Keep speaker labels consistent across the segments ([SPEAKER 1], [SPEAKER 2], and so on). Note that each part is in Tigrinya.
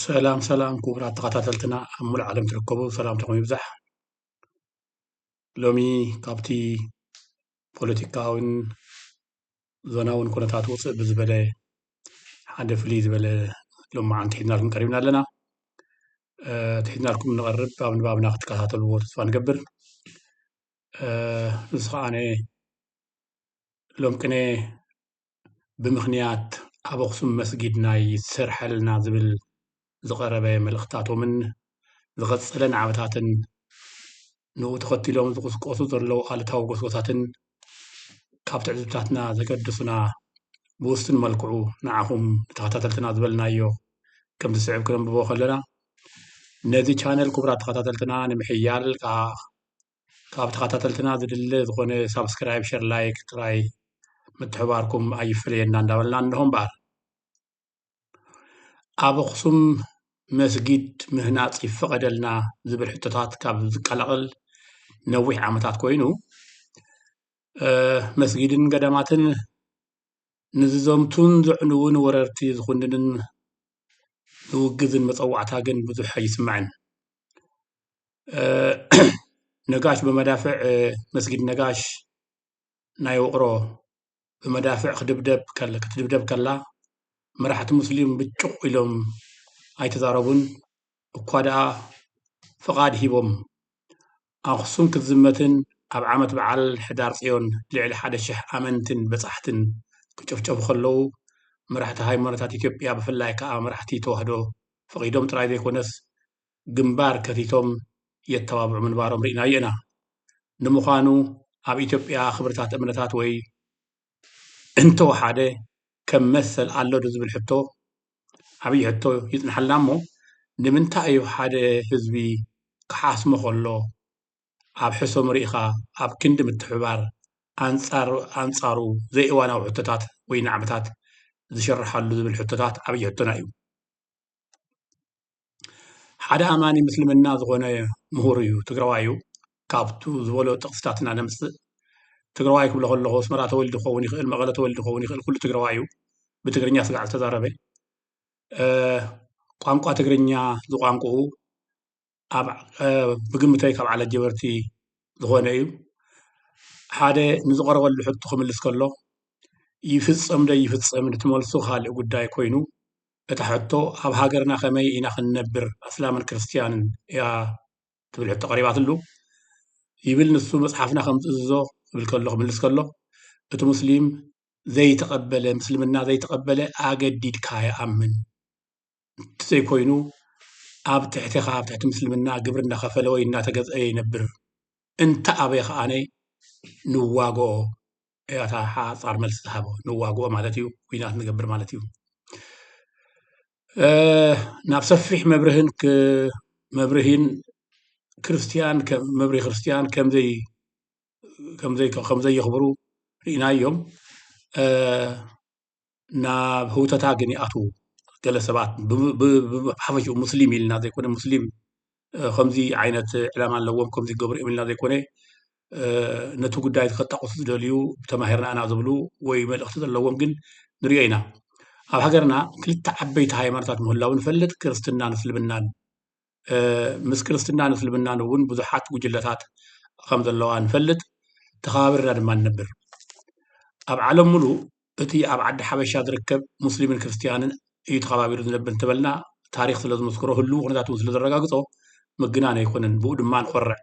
[SPEAKER 1] ሰላም ሰላም ክቡራት ተኸታተልትና ኣብ ሙሉእ ዓለም ትርከቡ ሰላምታኹም ይብዛሕ። ሎሚ ካብቲ ፖለቲካውን ዞናውን ኩነታት ውፅእ ብዝበለ ሓደ ፍልይ ዝበለ ሎማዓንቲ ሒዝናልኩም ቀሪብና ኣለና። እቲ ሒዝናልኩም ንቐርብ ኣብ ንባብና ክትከታተልዎ ተስፋ ንገብር። እዚ ከዓነ ሎም ቅነ ብምኽንያት ኣብ ኣኽሱም መስጊድ ናይ ይሰረሐልና ዝብል ዝቐረበ መልእኽትታቶምን ዝቐፀለ ናዕብታትን ንኡ ተኸቲሎም ዝቕስቀሱ ዘለዉ ኣሉታዊ ጎስጎሳትን ካብ ትዕዝብታትና ዘገድሱና ብውሱን መልክዑ ንዓኹም ንተኸታተልትና ዝበልናዮ ከም ዝስዕብ ክነንብቦ ከለና ነዚ ቻነል ክቡራት ተኸታተልትና ንምሕያል ከዓ ካብ ተኸታተልትና ዝድለ ዝኾነ ሳብስክራይብ ሸር ላይክ ጥራይ ምትሕባርኩም ኣይፍለየና እንዳበልና እንሆ እምበኣር ኣብ ኣኽሱም መስጊድ ምህናፅ ይፈቐደልና ዝብል ሕቶታት ካብ ዝቀላቐል ነዊሕ ዓመታት ኮይኑ መስጊድን ገዳማትን ንዝዘምቱን ዘዕንውን ወረርቲ ዝኹንንን ዝውግዝን መፀዋዕታ ግን ብዙሕ ኣይስማዕን ነጋሽ ብመዳፍዕ መስጊድ ነጋሽ ናይ ውቕሮ ብመዳፍዕ ክትድብደብ ክትድብደብ ከላ መራሕቲ ሙስሊም ብጩቕ ኢሎም ኣይተዛረቡን እኳ ደኣ ፍቓድ ሂቦም ኣኽሱም ክትዝመትን ኣብ ዓመት በዓል ሕዳር ፅዮን ልዕሊ ሓደ ሽሕ ኣመንትን በፃሕትን ክጭፍጨፉ ከለዉ መራሕቲ ሃይማኖታት ኢትዮጵያ ብፍላይ ከዓ መራሕቲ ተዋህዶ ፈቒዶም ጥራይ ዘይኮነስ ግንባር ከፊቶም የተባብዑ ምንባሮም ርኢናዮ ኢና። ንምዃኑ ኣብ ኢትዮጵያ ክብርታት እምነታት ወይ እንተወሓደ ከም መሰል ኣሎ ዶ ዝብል ሕቶ ዓብዪ ሕቶ ይፅነሓልና እሞ ንምንታይ እዩ ሓደ ህዝቢ ክሓስሞ ከሎ ኣብ ሕሰሙ ርኢኻ ኣብ ክንዲ ምትሕብባር ኣንፃር ኣንፃሩ ዘይእዋናዊ ሕቶታት ወይ ናዕብታት ዝሽረሓሉ ዝብል ሕቶታት ዓብዪ ሕቶና እዩ። ሓደ ኣማኒ ምስልምና ዝኾነ ምሁር እዩ ትግራዋይ እዩ ካብቱ ዝበሎ ጥቅስታት ኢና ነምፅእ ትግራዋይ ክብሎ ከለኹ ኣስመራ ተወሊዱ ክኸውን ይኽእል መቐለ ተወሊዱ ክኸውን ይኽእል ኩሉ ትግራዋይ እዩ ብትግርኛ ስጋዕ ዝተዛረበ ቋንቋ ትግርኛ ዝቋንቁኡ ኣብ ብግምተይ ካብ ዓለት ጀበርቲ ዝኾነ እዩ ሓደ ንዝቐረበሉ ሕቶ ክምልስ ከሎ ይፍፀም ዶ ይፍፀም ንትመልሱ ካልእ ጉዳይ ኮይኑ እታ ሕቶ ኣብ ሃገርና ከመይ ኢና ክንነብር ኣስላምን ክርስትያንን እያ ትብል ሕቶ ቀሪባትሉ ይብል ንሱ መጽሓፍና ከም ዝእዝዞ ክብል ከሎ ክምልስ ከሎ እቲ ሙስሊም ዘይተቐበለ ምስልምና ዘይተቐበለ ኣገዲድካ ይኣምን እንተዘይኮይኑ ኣብ ትሕቲኻ ኣብ ትሕቲ ምስልምና ግብሪ እናኸፈለ ወይ እናተገዝአ ይነብር እንተ ኣበየ ከኣነ ንዋግኦ እያ እታ ሓፃር መልሲ ዝሃቦ ንዋግኦ ማለት እዩ ኩናት ንገብር ማለት እዩ ናብ ሰፊሕ መብርህን መብርሂን ክርስትያን መብርሂ ክርስትያን ከምዘይ ከምዘይ ከምዘየኽብሩ ርኢናዮም ናብ ህውተታ ግን ይኣትዉ ገለ ሰባት ብሓፈሽኡ ሙስሊም ኢልና ዘይኮነ ሙስሊም ከምዚ ዓይነት ዕላማ ኣለዎም ከምዚ ይገብሩ እዮም ኢልና ዘይኮነ ነቲ ጉዳይ እዚ ከጣቕሱ ዝደልዩ ተማሂርና ኢና ዝብሉ ወይ መልእኽቲ ዘለዎም ግን ንሪኦ ኢና ኣብ ሃገርና ክልተ ዓበይቲ ሃይማኖታት ምህላው ንፈልጥ ክርስትናን እስልምናን ምስ ክርስትናን እስልምናን እውን ብዙሓት ጉጅለታት ከም ዘለዋ ንፈልጥ ተኸባቢርና ድማ ንነብር ኣብ ዓለም ሙሉእ እቲ ኣብ ዓዲ ሓበሻ ዝርከብ ሙስሊምን ክርስትያንን እዩ ተኸባቢሩ ዝነብር እንተበልና ታሪክ ስለ ዝመስክሮ ህልው ኩነታት እውን ስለ ዘረጋግፆ ምግናን ኣይኮነን ብኡ ድማ ንኮርዕ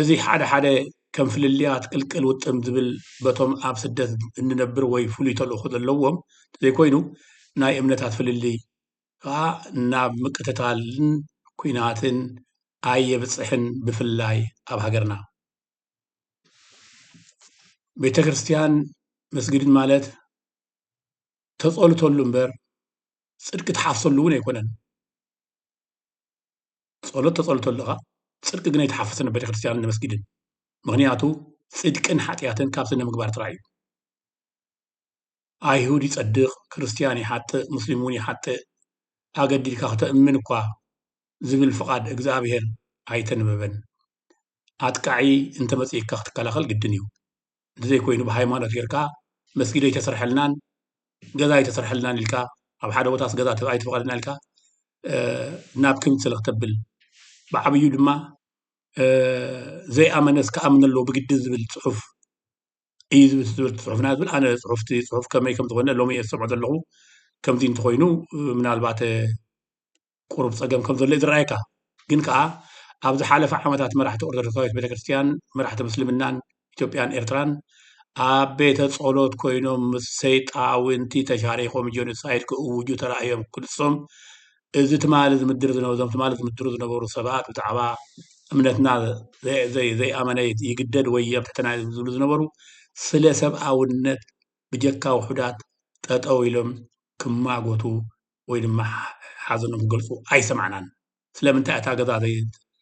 [SPEAKER 1] እዚ ሓደ ሓደ ከም ፍልልያት ቅልቅል ውጥም ዝብል በቶም ኣብ ስደት እንነብር ወይ ፍሉይ ተልእኮ ዘለዎም ዘይኮይኑ ናይ እምነታት ፍልልይ ከኣ ናብ ምቅትታልን ኩናትን ኣይየብጽሕን ብፍላይ ኣብ ሃገርና ቤተክርስትያን መስጊድን ማለት ተጸሉተሉ እምበር ጽድቂ ትሓፍሰሉ እውን ኣይኮነን ጸሎት ተጸሉተሉ ኢኻ ጽድቂ ግን ኣይትሓፍስን ኣብ ቤተክርስትያንን መስጊድን ምኽንያቱ ጽድቅን ሓጥያትን ካብ ስነምግባር ጥራይ እዩ። ኣይሁድ ይጸድቕ፣ ክርስትያን ይሓጥእ፣ ሙስሊምውን ይሓጥእ፣ ኣገዲድካ ክተእምን እኳ ዝብል ፍቓድ እግዝኣብሄር ኣይተንበበን። ኣጥቃዒ እንተ መጺኡካ ክትከላኸል ግድን እዩ። እንተዘይኮይኑ ብሃይማኖት ጌርካ መስጊድ ኣይተሰርሐልናን፣ ገዛ ኣይተሰርሐልናን ኢልካ፣ ኣብ ሓደ ቦታስ ገዛ ኣይተፈቐደና ኢልካ ናብ ክንድ ስለ ክተብል፣ ብዓብዩ ድማ ዘይኣመነስ ክኣምን ኣለዎ ብግድን ዝብል ጽሑፍ እዩ ዝብል ትዝብል ፅሑፍና ዝብል ኣነ ፅሑፍቲ ፅሑፍ ከመይ ከም ዝኾነ ሎሚ እየ ዝሰምዖ ዘለኹ ከምዚ እንተኾይኑ ምናልባት ቁሩብ ፀገም ከም ዘሎ እዩ ዝረኣየካ ግን ከዓ ኣብ ዝሓለፈ ዓመታት መራሕቲ ኦርቶዶክሳዊት ቤተክርስትያን መራሕቲ ምስልምናን ኢትዮጵያን ኤርትራን ኣብ ቤተ ጸሎት ኮይኖም ምስ ሰይጣውንቲ ተሻሪኾም ጆኖሳይድ ክእውጁ ተራእዮም ክልሶም እዚ ትማሊ ዝምድር ዝነበሩ እዞም ትማሊ ዝምድሩ ዝነበሩ ሰባት ብዛዕባ እምነትና ዘይኣመነ ይግደድ ወይ የብሕተና ዝብሉ ዝነበሩ ስለ ሰብኣውነት ብጀካ ውሑዳት ጠጠው ኢሎም ክማጎቱ ወይ ድማ ሓዘኖም ክገልፁ ኣይሰማዕናን። ስለምንታይ እታ ገዛ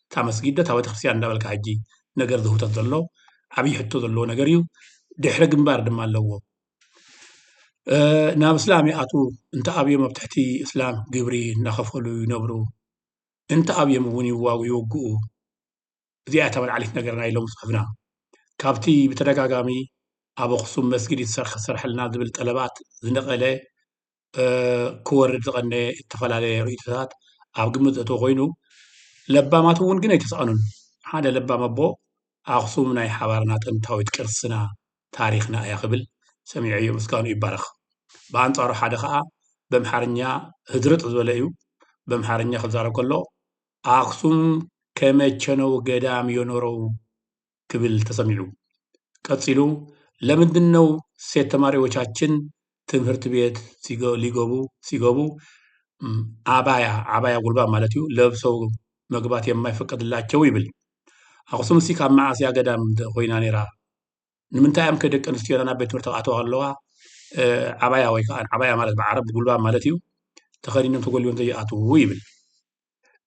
[SPEAKER 1] እታ መስጊድ ዶ እታ ቤተክርስትያን እንዳበልካ ሕጂ ነገር ዝህውተት ዘሎ ዓብይ ሕቶ ዘለዎ ነገር እዩ። ድሕረ ግንባር ድማ ኣለዎ። ናብ እስላም ይኣትዉ እንተኣብዮም ኣብ ትሕቲ እስላም ግብሪ እናኸፈሉ ይነብሩ እንተኣብዮም እውን ይወግኡ እዚኣ እያ ወልዓሊት ነገር ናይ ሎሚ ፅሑፍና ካብቲ ብተደጋጋሚ ኣብ ኣኽሱም መስጊድ ይሰርሕ ዝስረሐልና ዝብል ጠለባት ዝነቐለ ክወርድ ዝቐነየ እተፈላለየ ርእይቶታት ኣብ ግምት ዘእተወ ኾይኑ፣ ለባማት እውን ግን ኣይተሳእኑን። ሓደ ለባም ኣቦ፣ ኣኽሱም ናይ ሓባርና ጥንታዊት ቅርስና፣ ታሪኽና እያ ክብል ሰሚዐዮ ምስጋንኡ ይባረኽ። ብኣንጻሩ ሓደ ኸኣ በምሓርኛ ህድርጥ ዝበለ እዩ። በምሓርኛ ክዛረብ ከሎ ኣኽሱም ከመቸነው ገዳም ዮኖረው! ክብል ተሰሚዑ። ቀጺሉ ለምንድን ነው ሴት ተማሪዎቻችን ትምህርት ቤት ሊገቡ ሲገቡ ዓባያ ዓባያ ጉልባ ማለት እዩ ለብሰው መግባት የማይፈቀድላቸው ይብል። ኣኽሱም ሲ ካብ መዓስ እያ ገዳም ኮይና ነይራ? ንምንታይ እዮም ከ ደቂ ኣንስትዮና ናብ ቤት ትምህርቲ ክኣተዋ ኣለዋ ዓባያ ወይ ከዓ ዓባያ ማለት ብዓረብ ጉልባ ማለት እዩ ተኸዲኖም ተጎሊቦም ዘይኣትዉ ይብል።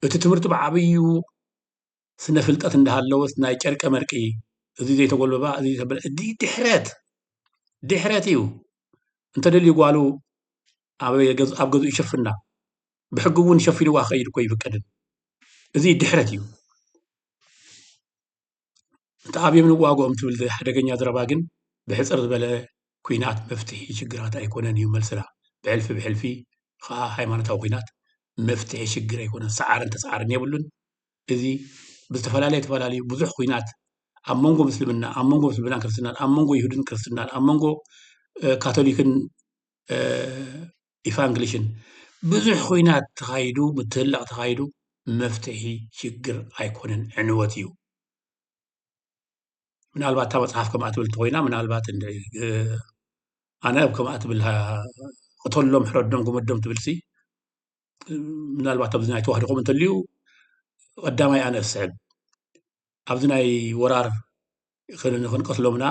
[SPEAKER 1] እቲ ትምህርቲ ብዓብዩ ስነ ፍልጠት እንዳሃለወስ ናይ ጨርቀ መርቂ እዙይ ዘይተጎልበባ እዙይ ዘይተበለ እዚ ድሕረት ድሕረት እዩ እንተደልዩ ጓሉ ኣብ ገዝኡ ይሸፍና ብሕጊ እውን ሸፊንዋ ክኸይድ እኮ ይፍቀድን እዚ ድሕረት እዩ እቲ ኣብዮም ንዋግኦም ትብል ሓደገኛ ዘረባ ግን ብሕፅር ዝበለ ኩናት መፍትሒ ሽግራት ኣይኮነን እዩ መልስና ብሕልፊ ብሕልፊ ከዓ ሃይማኖታዊ ኩናት መፍትሒ ሽግር ኣይኮነን ሰዓርን ተሰዓርን የብሉን እዚ ብዝተፈላለዩ ተፈላለዩ ብዙሕ ኹናት ኣብ መንጎ ምስልምና ኣብ መንጎ ምስልምናን ክርስትናን ኣብ መንጎ ይሁድን ክርስትናን ኣብ መንጎ ካቶሊክን ኢፋንግሊሽን ብዙሕ ኹናት ተኻይዱ ምትህላቕ ተኻይዱ መፍትሒ ሽግር ኣይኮነን ዕንወት እዩ ምናልባት እታ መፅሓፍ ከምኣ ትብል እንተኮይና ምናልባት ኣነ ኣብ ከምኣ ትብል ቅተሎም ሕረዶም ግመዶም ትብልሲ ምናልባት ኣብዚ ናይ ተዋህዶ ከምኡ እንተልዩ ቀዳማይ ኣነ ዝስዕብ ኣብዚ ናይ ወራር ክንቀትሎምና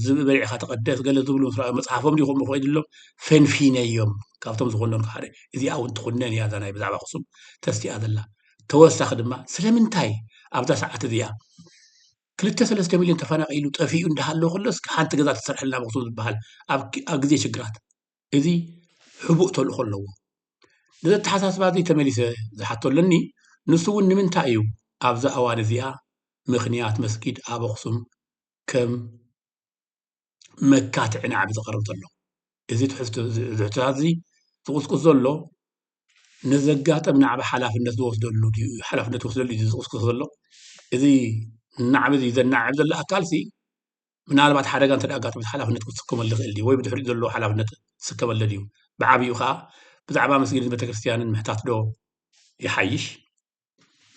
[SPEAKER 1] ዝብ በሊዕካ ተቀደስ ገለ ዝብሉ ምስ ረኣዩ መፅሓፎም ድዩ ከምኡ ኮይኑ ሎም ፈንፊነዮም ካብቶም ዝኮነልካ ሓደ እዚኣ እውን ትኩነን እያ እዛ ናይ ብዛዕባ ክሱም ተስቲኣ ዘላ ተወሳኺ ድማ ስለምንታይ ኣብዛ ሰዓት እዚኣ ክልተ ሰለስተ ሚልዮን ተፈናቂሉ ጠፊኡ እንዳሃለዎ ከሎስ ሓንቲ ገዛ ተሰርሐልና መክሱም ዝበሃል ኣብ ግዜ ሽግራት እዚ ሕቡእ ተልእኾ ኣለዎ። ነዚ ኣተሓሳስባ እዚ ተመሊሰ ዝሓቶ ኣለኒ፣ ንሱ እውን ንምንታይ እዩ ኣብዛ እዋን እዚኣ ምኽንያት መስጊድ ኣብ ኣኽሱም ከም መካትዒ ናዕቢ ዝቐርብ ዘሎ? እዚ ትሕዝቶ እዚ ሕቶታት እዚ ዝቑስቁስ ዘሎ ንዘጋጠም ናዕቢ ሓላፍነት ዝወስደሉ ድዩ ሓላፍነት ዝወስደሉ ድዩ ዝቑስቁስ ዘሎ? እዚ ናዕቢ እዚ ዘናዕብ ዘሎ ኣካልሲ ምናልባት ሓደጋ እንተ ኣጋጥሞት ሓላፍነት ክትስከመሉ ይኽእል ድዩ ወይ ብድሕሪኡ ዘሎ ሓላፍነት ትስከመሉ ድዩ ብዓብኡ ከዓ ብዛዕባ መስጊድን ቤተክርስትያንን ምሕታት ዶ ይሓይሽ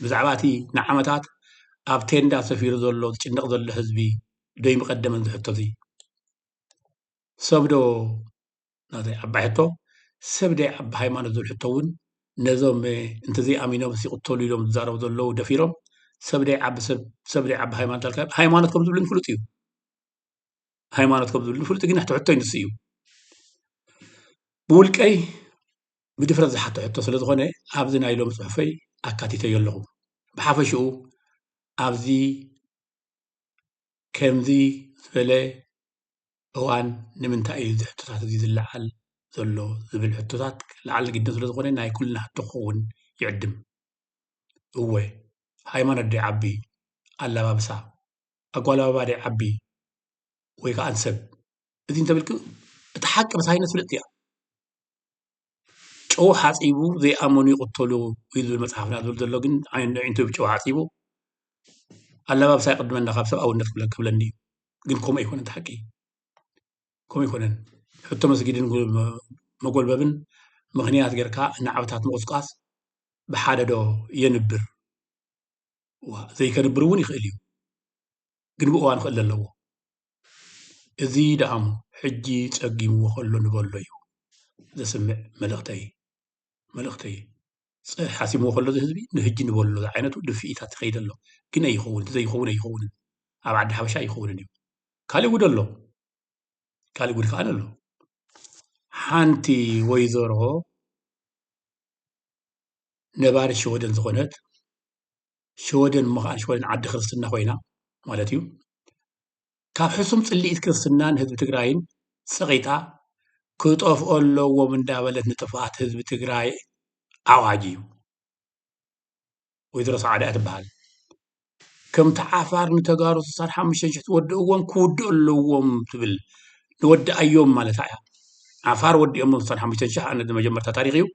[SPEAKER 1] ብዛዕባ እቲ ንዓመታት ኣብ ቴንዳ ሰፊሩ ዘሎ ዝጭነቕ ዘሎ ህዝቢ ዶይ ምቐደመን ዝሕቶ እዚ ሰብ ዶ ናተይ ዓባይ ሕቶ ሰብ ደይ ዓቢ ሃይማኖት ዝብል ሕቶ ውን ነዞም እንተዘይ ኣሚኖምስ ይቕተሉ ኢሎም ዝዛረቡ ዘለዉ ደፊሮም ሰብ ደይ ዓቢ ሰብ ሰብ ደይ ዓቢ ሃይማኖት ኣልካ ሃይማኖት ከም ዝብልን ፍሉጥ እዩ ሃይማኖት ከም ዝብልን ፍሉጥ ግን ሕቶ ሕቶ ይንስ እዩ ብውልቀይ ብድፍረት ዝሓቶ ሕቶ ስለ ዝኾነ ኣብዚ ናይ ሎም ፅሑፈይ ኣካቲተዮ ኣለኹ ብሓፈሽኡ ኣብዚ ከምዚ ዝበለ እዋን ንምንታይ እዩ እዚ ሕቶታት እዚ ዝለዓል ዘሎ ዝብል ሕቶታት ላዕሊ ግድን ስለ ዝኾነ ናይ ኩልና ሕቶ ክኸውን ይዕድም። እወ ሃይማኖት ደይዓቢ፣ ኣላባብሳ፣ ኣጓልባባ ደይዓቢ ወይ ከኣ ሰብ እዚ እንተብልኪ እቲ ሓቂ ብሳይነስ ፍልጥቲ እያ። ጨው ሓፂቡ ዘይኣመኑ ይቅተሉ እዩ ዝብል መፅሓፍና ዝብል ዘሎ ግን ኣዒንቱ ብጨው ሓፂቡ ኣላባብሳ ይቅድመና ካብ ሰብኣውነት ክብለኒ እዩ ግን ከምኡ ኣይኮነን እቲ ሓቂ ከምኡ ኣይኮነን ሕቶ መስጊድን መጎልበብን ምክንያት ጌርካ ንዓመታት ምቁስቃስ ብሓደ ዶ የንብር ዘይከንብር እውን ይክእል እዩ ግን ብእዋኑ ክእለ ኣለዎ እዚ ደኣሞ ሕጂ ጸጊምዎ ከሎ ንበሎ እዩ ዘስምዕ መልእኽተይ መልእኽተይ ጸ ሓሲምዎ ከሎ እዚ ህዝቢ ንህጂ ንበሎ ዝዓይነቱ ድፍኢታት ይኸይድ ኣሎ ግን ኣይኸውን እቲ ዘይኸውን ኣይኸውንን ኣብ ዓዲ ሓበሻ ኣይኸውንን እዩ ካልእ ጉድ ኣሎ ካልእ ጉድ ከኣ ኣሎ ሓንቲ ወይዘሮ ነባሪ ሸወደን ዝኾነት ሸወደን እሞ ከዓ ሸወደን ዓዲ ክርስትና ኮይና ማለት እዩ ካብ ሕሱም ፅልኢት ክርስትናን ህዝቢ ትግራይን ፀቂጣ ክጠፍኦ ኣለዎም እንዳበለት ንጥፍኣት ህዝቢ ትግራይ ዓዋጅ እዩ ወይዘሮ ሰዓዳ እያ ትበሃል ከምቲ ዓፋር ንተጋሩ ስሳን ሓሙሽተን ሽሕ ዝወድእዎም ክውድኡ ኣለዎም ትብል ንወድኣዮም ማለታ እያ ዓፋር ወዲኦሞ ስሳን ሓሙሽተን ሽሕ ኣነ መጀመርታ ታሪክ እዩ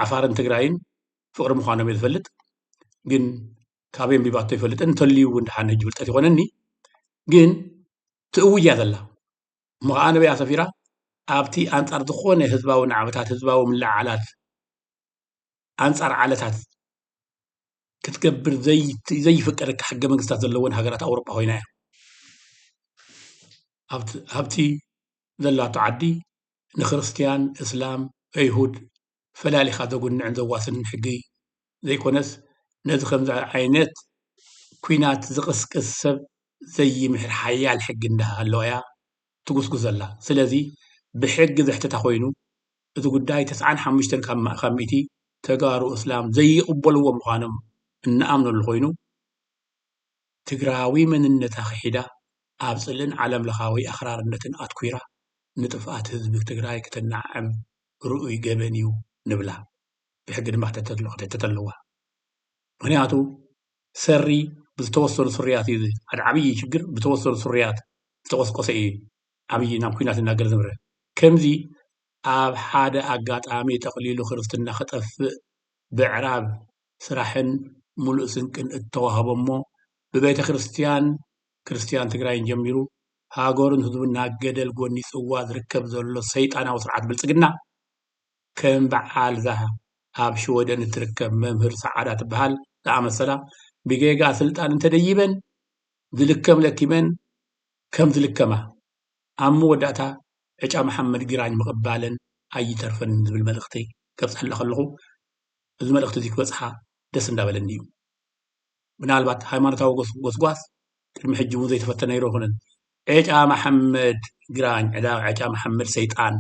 [SPEAKER 1] ዓፋርን ትግራይን ፍቅሪ ምኳኖም እየ ዝፈልጥ ግን ካበይ ኣንቢባቶ ኣይፈልጥን እንተልዩ እውን ድሓን ሕጂ ፍልጠት ይኮነኒ ግን ትእውጅ እያ ዘላ እሞ ከዓ ኣነበይ ኣሰፊራ ኣብቲ ኣንፃር ዝኾነ ህዝባዊ ናዕብታት ህዝባዊ ምልዓዓላት ኣንፃር ዓለታት ክትገብር ዘይፍቀደካ ሕገ መንግስታት ዘለወን ሃገራት ኣውሮፓ ኮይና እያ ሃብቲ ዘላቶ ዓዲ ንክርስትያን እስላም እይሁድ ፈላሊኻ ዘጉንዕን ዘዋስንን ሕጊ ዘይኮነስ ነዚ ከምዚ ዓይነት ኩናት ዝቕስቅስ ሰብ ዘይምሕር ሓያል ሕጊ እንዳሃለወ እያ ትጉስጉስ ዘላ ስለዚ ብሕጊ ዘሕትታ ኮይኑ እዚ ጉዳይ ተስዓን ሓሙሽተን ካብ ሚእቲ ተጋሩ እስላም ዘይቕበልዎ ምዃኖም እንኣምነሉ ኮይኑ ትግራዊ መንነታ ክሒዳ ኣብ ጽልእን ዓለምለኻዊ ኣኽራርነትን ኣትኲራ ንጥፍኣት ህዝቢ ትግራይ ክተናዕም ርኡይ ገበን እዩ ንብላ። ብሕጊ ድማ ክተተት ኣለዋ። ምኽንያቱ ሰሪ ብዝተወሰኑ ስሩያት እዩ ሓደ ዓብዪ ችግር ብተወሰኑ ስሩያት ዝተቖስቆሰ እዩ ዓብዪ ናብ ኲናት እናገረ ዝምረ ከምዚ ኣብ ሓደ ኣጋጣሚ ጠቕሊሉ ክርስትና ክጠፍእ ብዕራብ ስራሕን ሙሉእ ስንቅን እተዋህቦ እሞ ብቤተ ክርስትያን ክርስትያን ትግራይን ጀሚሩ ሃገሩን ህዝቡን ናብ ገደል ጎኒፅዋ ዝርከብ ዘሎ ሰይጣናዊ ስርዓት ብልፅግና ከም በዓል'ዛ ኣብ ሽወደን እትርከብ መምህር ሰዓዳ ትበሃል ዝኣመሰላ ብጌጋ ስልጣን እንተደይበን ዝልከም ለኪመን ከም ዝልከማ ኣብ መወዳእታ ዕጫ መሓመድ ግራኝ ምቕባለን ኣይተርፈንን ዝብል መልእኽቲ ከብፀሐላ ከለኹ እዚ መልእኽቲ'ዚ ክበፅሓ ደስ እንዳበለኒ እዩ። ምናልባት ሃይማኖታዊ ጎስጓስ ቅድሚ ሕጂ እውን ዘይተፈተ ነይሩ ኣይኮነን። ዔጫ መሓመድ ግራኝ ዕዳ ዔጫ መሓመድ ሰይጣን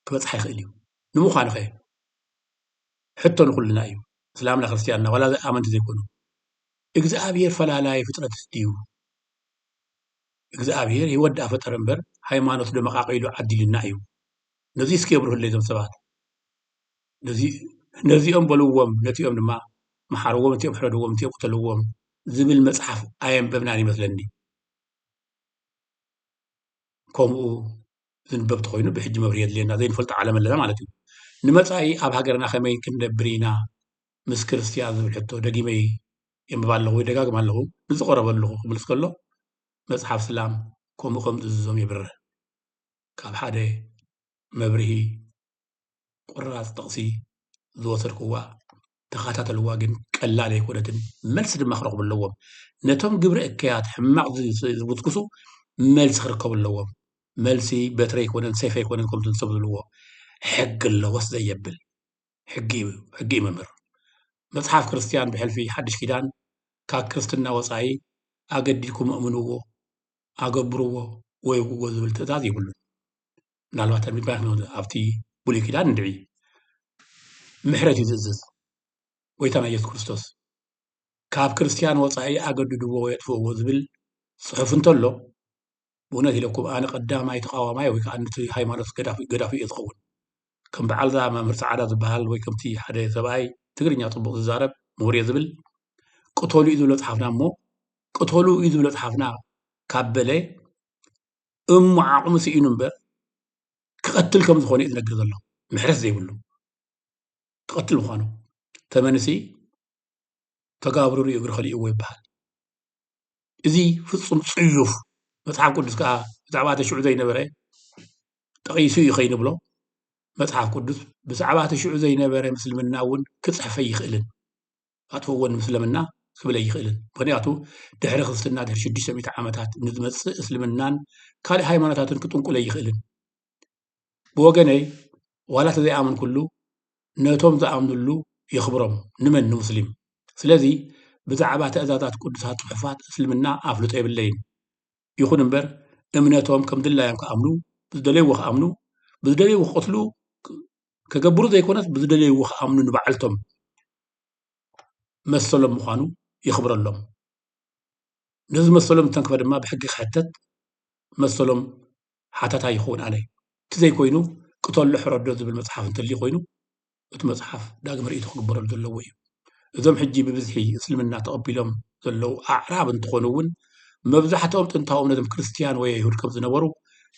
[SPEAKER 1] ክበጽሓ ይኽእል እዩ። ንምዃኑኸ? ሕቶ ንኹልና እዩ፣ እስላምና ክርስትያንና ዋላ ዘይኣመንቲ ዘይኮኑ። እግዝኣብሄር ፈላላይ ፍጥረት ድዩ? እግዝኣብሄር ህይወት ደኣ ፈጠረ እምበር ሃይማኖት ዶ መቓቒሉ ዓዲሉና እዩ? ነዙይ እስኪ የብርሁለይ እዞም ሰባት። ነዚኦም በልዎም ነቲኦም ድማ መሓርዎም ነቲኦም ሕረድዎም ነቲኦም ቅተልዎም ዝብል መጽሓፍ ኣየንበብናን ይመስለኒ ከምኡ ዝንበብ ተኾይኑ ብሕጂ መብርሂ የድልየና ዘይንፈልጦ ዓለም ኣለና ማለት እዩ ንመጻኢ ኣብ ሃገርና ከመይ ክንነብር ኢና ምስ ክርስትያን ዝብል ሕቶ ደጊመይ የንብባ ኣለኹ ወይ ደጋግም ኣለኹ ንዝቐረበ ኣለኹ ክምልስ ከሎ መጽሓፍ ስላም ከምኡ ከም ዝእዝዞም የብርህ ካብ ሓደ መብርሂ ቁራጽ ጥቕሲ ዝወሰድኩዋ ተኸታተልዋ ግን ቀላል ኣይኮነትን መልሲ ድማ ክረኽቡ ኣለዎም ነቶም ግብረ እከያት ሕማቕ ዝጉስጉሱ መልሲ ክርከቡ ኣለዎም መልሲ በትሪ ኣይኮነን ሰይፍ ኣይኮነን ከምቲ ሰብ ዝብልዎ ሕጊ ኣለዎስ ዘየብል ሕጊ እዩ ሕጊ እዩ መምህር መጽሓፍ ክርስትያን ብሕልፊ ሓድሽ ኪዳን ካብ ክርስትና ወፃኢ ኣገዲድኩም እምንዎ ኣገብርዎ ወይ ውዎ ዝብል ትእዛዝ ይብሉን ምናልባት ኣብቲ ብሉይ ኪዳን እንድዒ ምሕረት እዩ ዝእዝዝ ጎይታና ኢየሱስ ክርስቶስ ካብ ክርስትያን ወፃኢ ኣገድድዎ ወይ ኣጥፍእዎ ዝብል ፅሑፍ እንተሎ ብእውነት ኢለኩም ኣነ ቀዳማይ ተቃዋማይ ወይ ከዓ ንቲ ሃይማኖት ገዳፊ እየ ዝኸውን ከም በዓልዛ መምህር ፃዕዳ ዝበሃል ወይ ከምቲ ሓደ ሰብኣይ ትግርኛ ፅቡቅ ዝዛረብ ምሁር እየ ዝብል ቅተሉ እዩ ዝብሎ ፅሓፍና እሞ ቅተሉ እዩ ዝብሎ ፅሓፍና ካብ በለ እሞ ዓቕሙ ስኢኑ እምበር ክቐትል ከም ዝኾነ እዩ ዝነግር ዘሎ ምሕረት ዘይብሉ ክቐትል ምዃኑ ተመንሲ ተጋብርሩ እግሪ ከሊእዎ ይበሃል እዚ ፍፁም ፅዩፍ መፅሓፍ ቅዱስ ከዓ ብዛዕባ እቲ ሽዑ ዘይነበረ ጠቒሱ እዩ ከይንብሎ መፅሓፍ ቅዱስ ብዛዕባ እቲ ሽዑ ዘይነበረ ምስልምና እውን ክፅሕፈ ይኽእልን ኣትወዎ ንምስልምና ክብል ኣይኽእልን ምክንያቱ ድሕሪ ክርስትና ድሕሪ ሽዱሽተ ሚእቲ ዓመታት ንዝመፅእ እስልምናን ካልእ ሃይማኖታትን ክጥንቁል ኣይኽእልን ብወገነይ ዋላ ተዘይኣመንኩሉ ነቶም ዝኣምንሉ የኽብሮም ንመን ንሙስሊም ስለዚ ብዛዕባ ትእዛዛት ቅዱሳት ፅሑፋት እስልምና ኣፍልጦ የብለይን ይኹን እምበር እምነቶም ከም ድላዮም ክኣምኑ ብዝደለይዎ ክኣምኑ ብዝደለይዎ ክቕትሉ ከገብሩ ዘይኮነስ ብዝደለይዎ ክኣምኑ ንባዕልቶም መሰሎም ምዃኑ የኽብረሎም ነዚ መሰሎም ዝተንክፈ ድማ ብሕጊ ክሕተት መሰሎም ሓታታ ይኸውን ኣነ እቲ ዘይኮይኑ ቅተሎ ሕረዶ ዝብል መፅሓፍ እንተልዩ ኮይኑ እቲ መፅሓፍ ዳግመ ርእይቶ ክግበረሉ ዘለዎ እዩ እዞም ሕጂ ብብዝሒ እስልምና ተቐቢሎም ዘለዉ ኣዕራብ እንትኾኑ እውን መብዛሕትኦም ጥንታዊ እምነቶም ክርስትያን ወይ ኣይሁድ ከም ዝነበሩ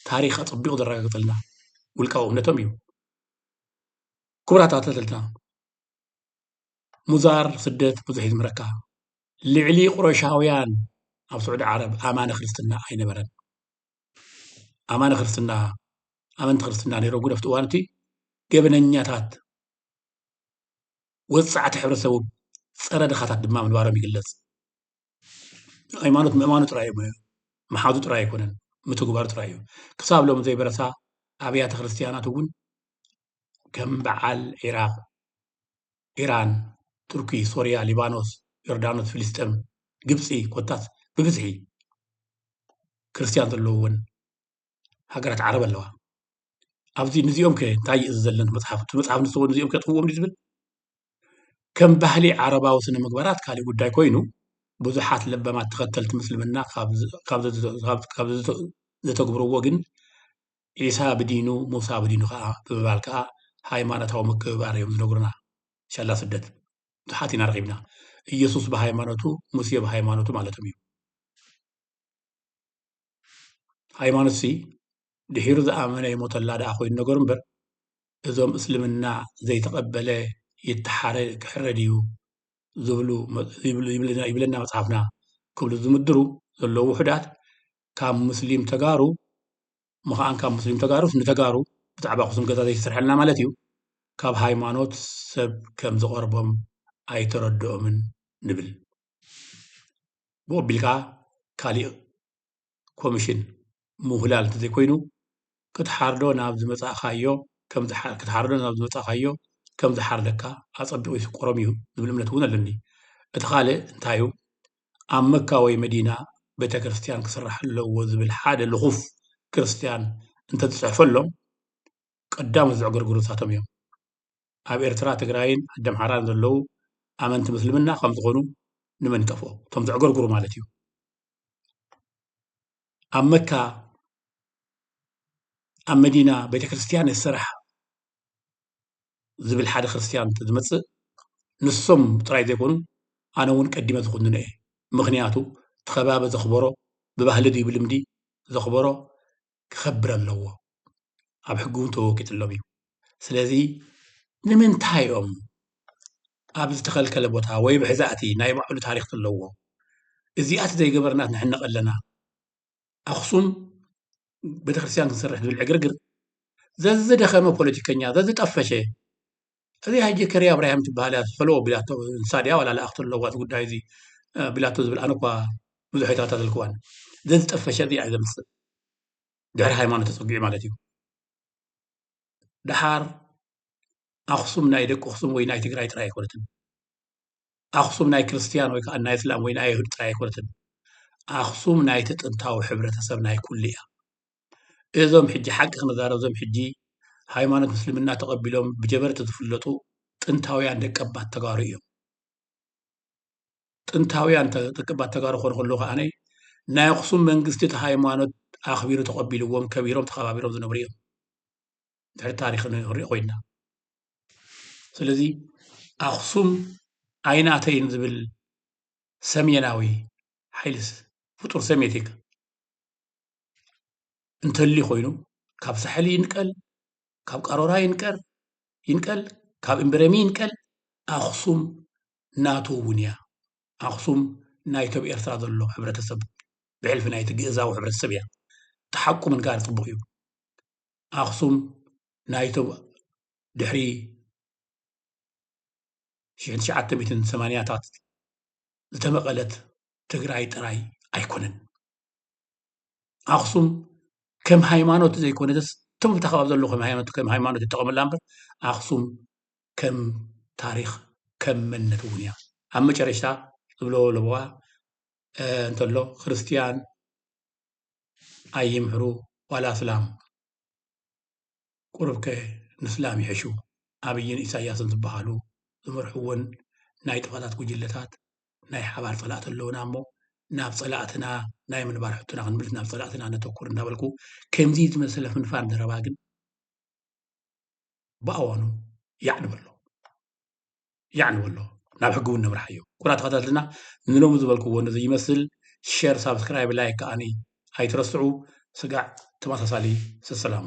[SPEAKER 1] ታሪኽ ኣጸቢቑ ዘረጋግጸልና ውልቃዊ እምነቶም እዩ። ክቡራት ኣተተልትና ሙዛር ስደት ብዙሕ እዩ ዝምረካ ልዕሊ ቁረሻውያን ኣብ ስዑዲ ዓረብ ኣማነ ክርስትና ኣይነበረን ኣማነ ክርስትና ኣመንቲ ክርስትና ነይሮም ግን ኣብቲ እዋን እቲ ገበነኛታት ወጻዕቲ ሕብረተሰቡ ጸረ ድኻታት ድማ ምንባሮም ይግለጽ። ሃይማኖት ምእማኑ ጥራይ እዩ ሞያ፣ ምሓዙ ጥራይ ኣይኮነን፣ ምትግባሩ ጥራይ እዩ። ክሳብ ሎሚ ዘይበረሳ ኣብያተ ክርስትያናት እውን ከም በዓል ዒራቕ፣ ኢራን፣ ቱርኪ፣ ሶርያ፣ ሊባኖስ፣ ዮርዳኖስ፣ ፍልስጤም፣ ግብጺ ኮታስ ብብዝሒ ክርስትያን ዘለውወን ሃገራት ዓረብ ኣለዋ ኣብዚ ንዚኦም ከ እንታይ እዩ ዘለኒ መፅሓፍ እቲ መፅሓፍ ንስዎ ንዚኦም ከጥፍዎም ዝብል ከም ባህሊ ዓረባዊ ስነ ምግባራት ካልእ ጉዳይ ኮይኑ ብዙሓት ለበማት ተኸተልቲ ምስልምና ካብ ዘተግብርዎ ግን ዒሳ ብዲኑ ሙሳ ብዲኑ ከዓ ብምባል ከዓ ሃይማኖታዊ ምክብባር እዮም ዝነግሩና ሻላ ስደት ብዙሓት ኢና ረኺብና ኢየሱስ ብሃይማኖቱ ሙሴ ብሃይማኖቱ ማለቶም እዩ ሃይማኖት ሲ ድሒሩ ዝኣመነ ይሞተላ ደኣ ኮይኑ ነገሩ እምበር እዞም እስልምና ዘይተቐበለ ይተሓረ ክሕረድ እዩ ዝብሉ ይብለና መፅሓፍና ክብሉ ዝምድሩ ዘለዉ ውሑዳት ካብ ሙስሊም ተጋሩ ምኻን ካብ ሙስሊም ተጋሩስ ንተጋሩ ብዛዕባ ኣኽሱም ገዛ ዘይተሰርሐልና ማለት እዩ ካብ ሃይማኖት ሰብ ከም ዝቐርቦም ኣይተረድኦምን ንብል ብኡ ኣቢሉ ከኣ ካሊእ ኮምሽን ምውህላል እንተዘይኮይኑ ክትሓርዶ ናብ ዝመፃእካዮ ክትሓርዶ ናብ ዝመፃእካዮ ከም ዝሓርደካ ኣፀቢቑ ይስቆሮም እዩ ዝብል እምነት እውን ኣለኒ። እቲ ካልእ እንታይ እዩ ኣብ መካ ወይ መዲና ቤተክርስትያን ክስራሕ ኣለዎ ዝብል ሓደ ልኹፍ ክርስትያን እንተዝፅሕፈሎም ቀዳሞት ዘዕገርግሩ ንሳቶም እዮም። ኣብ ኤርትራ ትግራይን ዓደምሓራን ዘለዉ ኣመንቲ ምስልምና ከም ዝኾኑ ንመን ይጠፍኦ እቶም ዘዕገርግሩ ማለት እዩ ኣብ መካ ኣብ መዲና ቤተ ክርስትያን የሰራሕ ዝብል ሓደ ክርስትያን ዝመፅእ ንሶም ጥራይ ዘይኮኑ ኣነ እውን ቀዲመ ዝኹንነ እየ ምክንያቱ እቲ ከባቢ ዘኽበሮ ብባህሊ ድዩ ብልምዲ ዘኽበሮ ክኸብር ኣለዎ ኣብ ሕጊ እውን ተወቂጥሎም እዩ ስለዚ ንምንታይ እዮም ኣብ ዝተኸልከለ ቦታ ወይ ብሕዛእቲ ናይ ባዕሉ ታሪክ ዘለዎ እዚኣት ዘይገበርና ንሕነቕ ኣለና ኣኽሱም ቤተክርስትያን ክንሰርሕ ዝብል ዕግርግር ዘዝደኸመ ፖለቲከኛ ዘዝጠፈሸ እዚ ሕጂ ከርያ ኣብራሂም ትበሃል እያ ፈለዎ ቢላቶ ንሳ ድያ ዋላ ለኣኽቲ ኣለዋ እቲ ጉዳይ እዚ ቢላቶ ዝብል ኣነ እኳ ብዙሕ ኣይተኸታተልክዋን ዘዝጠፈሸ እዚኣ እዩ ዘምፅእ ድሕሪ ሃይማኖት ተፀጊዑ ማለት እዩ ድሓር ኣኽሱም ናይ ደቂ ኣኽሱም ወይ ናይ ትግራይ ጥራይ ኣይኮነትን ኣኽሱም ናይ ክርስትያን ወይ ከዓ ናይ እስላም ወይ ናይ ኣይሁድ ጥራይ ኣይኮነትን ኣኽሱም ናይቲ ጥንታዊ ሕብረተሰብ ናይ ኩሉ እያ እዞም ሕጂ ሓቂ ክንዛረብ እዞም ሕጂ ሃይማኖት ምስልምና ተቐቢሎም ብጀበርቲ ዝፍለጡ ጥንታውያን ደቀባት ተጋሩ እዮም። ጥንታውያን ደቀባት ተጋሩ ክኾኑ ከለዉ ከዓነ ናይ ኣኽሱም መንግስቲ እቲ ሃይማኖት ኣኽቢሩ ተቐቢልዎም ከቢሮም ተኸባቢሮም ዝነብሩ እዮም ድሕሪ ታሪክ ክንሪኦ ኮይና ስለዚ ኣኽሱም ኣይናተይን ዝብል ሰሜናዊ ሓይልስ ፍጡር ሰሜቲክ እንተልዩ ኮይኑ ካብ ሳሕል ይንቀል ካብ ቃሮራ ይንቀር ይንቀል ካብ እምበረሚ ይንቀል ኣክሱም ናቱ እውን እያ ኣክሱም ናይቲ ኣብ ኤርትራ ዘሎ ሕብረተሰብ ብሕልፊ ናይቲ ግእዛዊ ሕብረተሰብ እያ እቲ ሓቁ ምንጋር ፅቡቅ እዩ ኣክሱም ናይቲ ድሕሪ ሽሕን ትሽዓተ ሚእትን ሰማንያታት ዝተመቐለት ትግራይ ጥራይ ኣይኮነን ኣክሱም ከም ሃይማኖት ዘይኮነትስ እቶም ኣብታ ከባቢ ዘለዉ ከም ሃይማኖት ይጠቐሙላ እምበር ኣክሱም ከም ታሪኽ ከም መንነት እውን እያ ኣብ መጨረሽታ እብሎ ለበዋ እንተሎ ክርስትያን ኣይምሕሩ ዋላ ኣስላም ቁሩብከ ንስላም ይሕሹ ኣብይን ኢሳያስን ዝበሃሉ ዝመርሕወን ናይ ጥፋታት ጉጅለታት ናይ ሓባር ፀላእቲ ኣለውና እሞ ናብ ፀላእትና ናይ ምንባር ሕቶና ክንምልስ ናብ ፀላእትና ነተኩር እንዳበልኩ ከምዚ ዝመሰለ ፍንፋን ዘረባ ግን ብኣዋኑ ያዕ ንበሎ። የዕንዎ ኣሎ ናብ ሕጊ እውን ነምርሓዮ ኩቡራት ተኸታተልና ንሎሚ ዝበልክዎ ነዚ ይመስል ሸር ሳብስክራይብ ላይክ ከዓ ኣይትረስዑ ስጋዕ ተመሳሳሊ ሰሰላሙ